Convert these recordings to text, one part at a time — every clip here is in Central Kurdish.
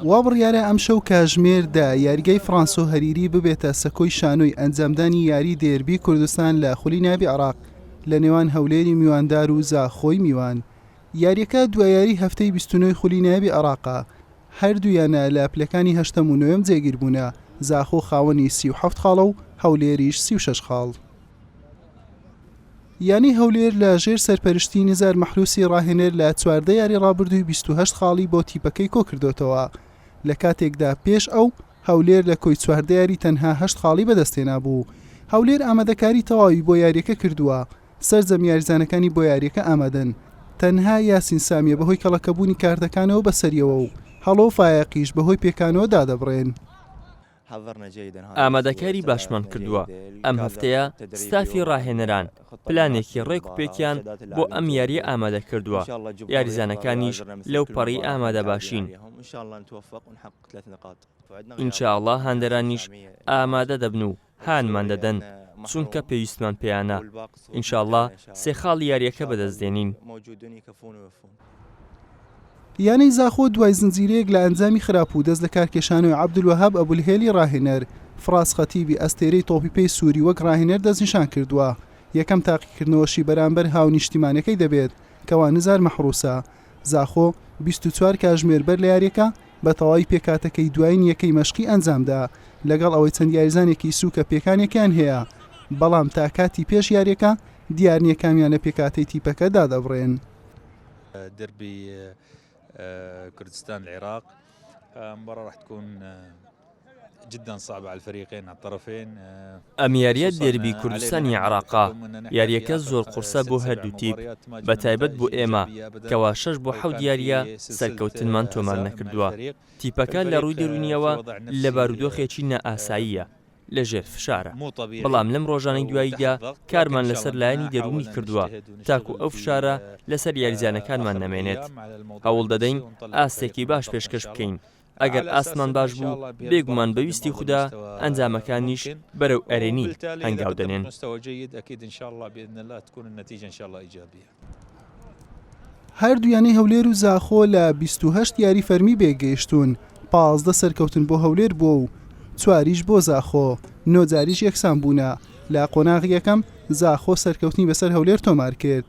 وا بڕیارە ئەمشەو کاژمێردا یاریگای فرانسۆ هەریری ببێتە سەکۆی شانۆی ئەنجامدانی یاری دێربی کوردستان لە خولی ناوی عراق لە نێوان هەولێری میواندار و زاخۆی میوان یاریەکە دوایاری هەفتەی 29 خولی ناوی عراقا هەردوویانە لە پلەکانی هەشتەم و نوێم جێگیربوونە زاخۆ خاوەنی 37 خاڵە و هەولێریش 36 خاڵ. یانەی هەولێر لە ژێر سەرپەرشتی نزار مەحروسی ڕاهێنەر لە چواردە یاری ڕابردووی بیست و هەشت خاڵی بۆ تیپەکەی کۆکردۆتەوە لە کاتێکدا پێش ئەو هەولێر لە کۆی چواردە یاری تەنها هەشت خاڵی بەدەستهێنابوو هەولێر ئامادەکاری تەواوی بۆ یاریەکە کردووە سەرجەم یاریزانەکانی بۆ یاریەکە ئامادەن تەنها یاسین سامیە بەهۆی کەڵەکەبوونی کارتەکانەوە بەسەریەوە و هەڵۆ فایەقیش بەهۆی پێکانەوە دادەبڕێن. ئامادەکاری باشمان کردووە، ئەم هەفتەیە ستافی راهێنەران پلانێکی رێک و پێکیان بۆ ئەم یارییە ئامادەکردووە، یاریزانەکانیش لەو پەڕی ئامادەباشین، ئینشائەڵڵا هاندەرانیش ئامادە دەبن و هانمان دەدەن، چونکە پێویستمان پێیانە، ئینشائەڵڵا سێ خاڵی یارییەکە بەدەستدێنین. یانەی زاخۆ دوای زنجیرەیەک لە ئەنجامی خراپ و دەست لە کارکێشانەوەی عەبدولوەهاب ئەبولهێلی راهێنەر، فراس خەتیبی ئەستێرەی تۆپی پێی سووری وەک راهێنەر دەستنیشان کردووە، یەکەم تاقیکردنەوەشی بەرامبەر هاونیشتیمانەکەی دەبێت کە وانزار مەحروسە. زاخۆ بیست و چوار کاژمێر بەر لە یارییەکە بە تەواوی پێکهاتەکەی دوایین یەکەی مەشقی ئەنجامدا، لەگەڵ ئەوەی چەند یاریزانێکی سووکە پێکانێکیان هەیە، بەڵام تا کاتی پێش یارییەکە دیار نییە کامیان لە پێکهاتەی تیپەکە دادەبڕێن. دربی کردستان العراق مباراة راح تكون جدا صعبة على الفريقين على الطرفين ئەم یاریە دێربی کوردستانی عراقا یاریەکە زۆر قورسە بۆ هەردوو تیپ بە تایبەت بۆ ئێمە کەوا شەش بۆ حەوت یاریە سەرکەوتنمان تۆمار نەکردووە تیپەکە لە ڕووی دەرونیەوە لە بارودۆخێکی نائاساییە لە ژێر فشارە، بەڵام لەم ڕۆژانەی دواییدا کارمان لەسەر لایەنی دەروونی کردووە تاکو ئەو فشارە لەسەر یاریزانەکانمان نەمێنێت، هەوڵ دەدەین ئاستێکی باش پێشکەش بکەین، ئەگەر ئاستمان باش بوو بێگومان بە ویستی خودا ئەنجامەکانیش بەرەو ئەرێنی هەنگاو دەنێن. هەردوو یانەی هەولێر و زاخۆ لە 28 یاری فەرمی بێگەیشتون پازدە سەرکەوتن بۆ هەولێر بووە و چواریش بۆ زاخۆ نۆجاریش یەکسان بوونە لە قۆناغ یەکەم زاخۆ سەرکەوتنی بەسەر هەولێر تۆمار کرد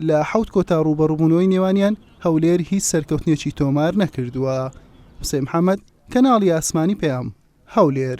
لە حوت کۆتا ڕوبەڕبوونەوەی نێوانیان هەولێر هیچ سەرکەوتنێکی تۆمار نەکردووە حسێن محەممەد کەناڵی ئاسمانی پەیام هەولێر